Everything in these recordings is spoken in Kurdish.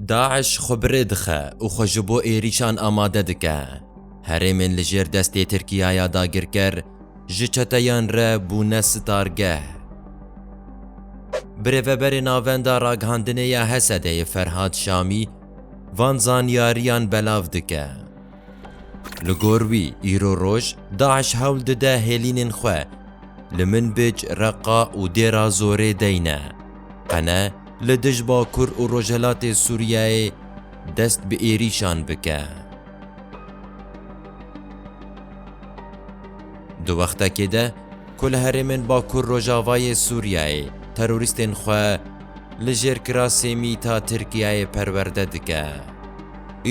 DAIŞ xwe bi rê dixe û xwe ji bo êrîşan amade dike. Herêmên li jêr destê Tirkiya ya dagirker ji çeteyan re bûne sitargeh. Birêveberê Navenda Ragihandinê ya HSD'ê Ferhad Şamî van zanyariyan belav dike. Li gor wî îro roj DAIŞ hewl dide hêlînên xwe li Minbij, Reqa û Dêra Zorê deyne. Qene li dij Bakur û Rojhelatê Sûriyeyê dest bi êrîşan bike. Di wextekê de ku li herêmên Bakur Rojavayê Sûriyeyê terorîstên xwe li jêr kirasê mîta Tirkiyeyê perwerde dike,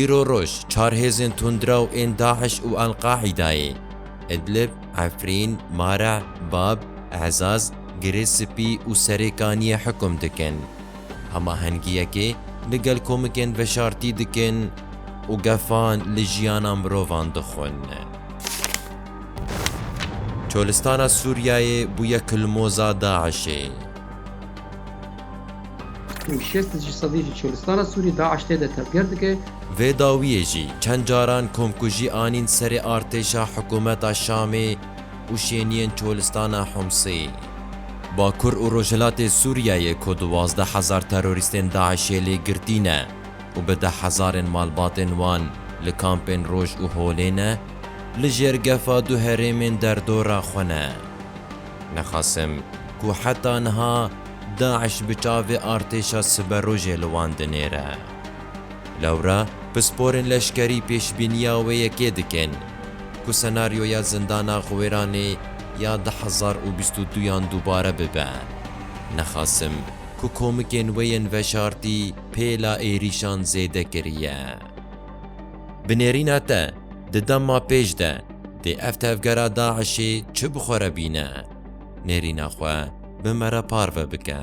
îro roj çar hêzên tundrew ên DAIŞ û Al-Qaîdayê, Idlib, Efrîn, Mara, Bab, Ezaz, Girê Spî û Serê Kaniyê hukum dikin, hemahengiyekê li gel komikên veşartî dikin û gefan li jiyana mirovan dixwin. Çolistana Sûriyeyê bûye kilmoza DAIŞ'ê. Û şêst ji sedî ji Çolistana Sûriyê DAIŞ tê de tevger dike. Vê dawiyê jî çend caran komkujî anîn serê artêşa hikûmeta Şamê, û şêniyên Çolistana Humsê. Bakur û Rojhilatê Sûriyeyê ku duwazdeh hezar terorîstên DAIŞ'ê lê girtî ne û bi deh hezarên malbatên wan li kampên Roj û Holê ne, li jêr gefa du herêmên derdora xwe ne. Nexasim ku heta niha DAIŞ bi çavê artêşa siberojê li wan dinêre. Lewra pisporên leşkerî pêşbîniya wê yekê dikin ku senaryoya zindana Xwêranê ya du hezar û bîst û du yan dubare bibe. Nexasim ku komikên wê yên veşartî pêla êrîşan zêde kiriye. Bi nêrîna te, di dema pêş de dê ev tevgera DAIŞ'ê çi bi xwe re bîne? Nêrîna xwe bi me re parve bike.